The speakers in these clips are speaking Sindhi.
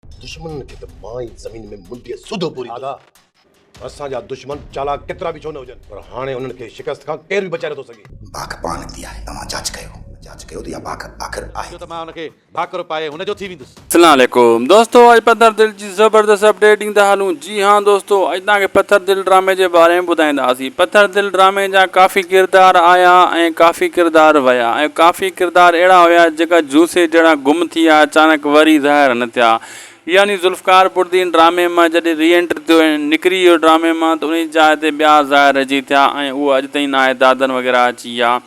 دشمنن کي ته مان ئي زمين ۾ منڊيء سوڌو پوريندس. آغا، اسان جا دشمن چالاڪ ڪيترا به ڇو نه هجن، پر هاڻي انهن کي شڪست کان ڪير به بچائي نٿو سگهي. باک پاء نڪتي آهي، توهان جاچ ڪيو. جاچ ڪيو ته اها باک آخر آهي ڪيئن؟ ڇو ته مان ان کي ڀاڪر پائي هن جو ٿي ويندس. اسلام عليڪم دوستو اڄ پندرهن دل جي زبردست اپڊيٽ ڏيندا هلون. جي ھان دوستو اڄ توھان کي پٿر دل ڊرامي جي باري ۾ ٻڌائينداسين پٿر دل ڊرامي جا ڪافي ڪردار آيا ۽ ڪافي ڪردار ويا ۽ ڪافي ڪردار اھڙا ھيا جيڪا جوسي جھڙا گم ٿي آيا اچانڪ وري ظاھر نه ٿيا يعني ذوالفقار بردين ڊرامي مان جڏھن ري انٽري ٿيو ۽ نڪري ويو ڊرامي مان ته انھي جي جاء تي ٻيا ظاھر رھجي ٿيا ۽ اھو اڄ تائين ناھي دادن وغيره اچي ويا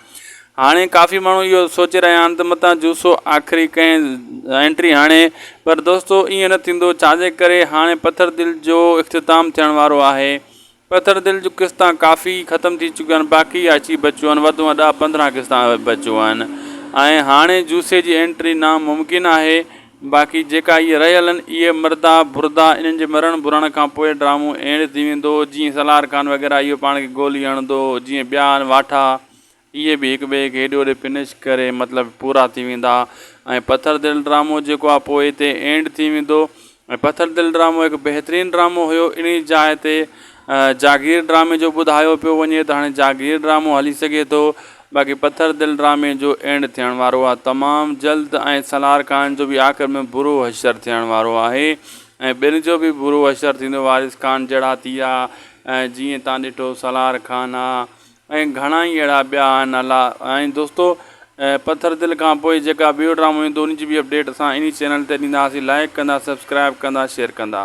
هاڻي ڪافي ماڻهو اهو سوچي رهيا آهن ته متان جوسو آخري ڪنهن انٽري هڻي پر دوستو ائين نه ٿيندو ڇاجي ڪري هاڻي پٿر دل جو اختتام ٿيڻ وارو آهي پٿر دل جو قسطا ڪافي ختم ٿي چڪيا آهن باقي اچي بچيو آهن وڌ ۾ ڏهه پندرهن قسطا بچيو آهن ۽ هاڻي جوسي جي انٽري ناممڪن آهي باقي جيڪا هي رهيل آهن اهي مردا بردا انهن جي مرڻ برڻ کان پوء ڊرامو اهڙي ٿي ويندو جيئن سالار خان وغيره اهو پاڻ کي گولي هڻندو جيئن ٻيا آهن واٺا اهي به هڪ ٻئي کي هيڏي هوڏي فنش ڪري مطلب پورا ٿي ويندا ۽ پٿر دل ڊرامو جيڪو آهي پوء هتي اينڊ ٿي ويندو ۽ پٿر دل ڊرامو هڪ بهترين ڊرامو هيو انهي جاء تي جاگير ڊرامي جو ٻڌايو پيو وڃي ته هاڻي جاگير ڊرامو هلي سگهي ٿو باقي پٿر دل ڊرامي جو اينڊ ٿيڻ وارو آ تمام جلد ۽ سالار خان جو به آخر ۾ برو حشر ٿيڻ وارو آهي ۽ ٻن جو به برو حشر ٿيندو وارث خان جهڙا ٿي آ ۽ جيئن تان ڏٺو سالار خان آ ۽ گهڻا ئي اهڙا ٻيا آهن الله ۽ دوستو پٿر دل کان پوء جيڪا ٻيو ڊرامو ايندو ان جي به اپڊيٽ اسان انهي چينل تي ڏينداسين لائڪ ڪندا سبسڪرائب ڪندا شيئر ڪندا.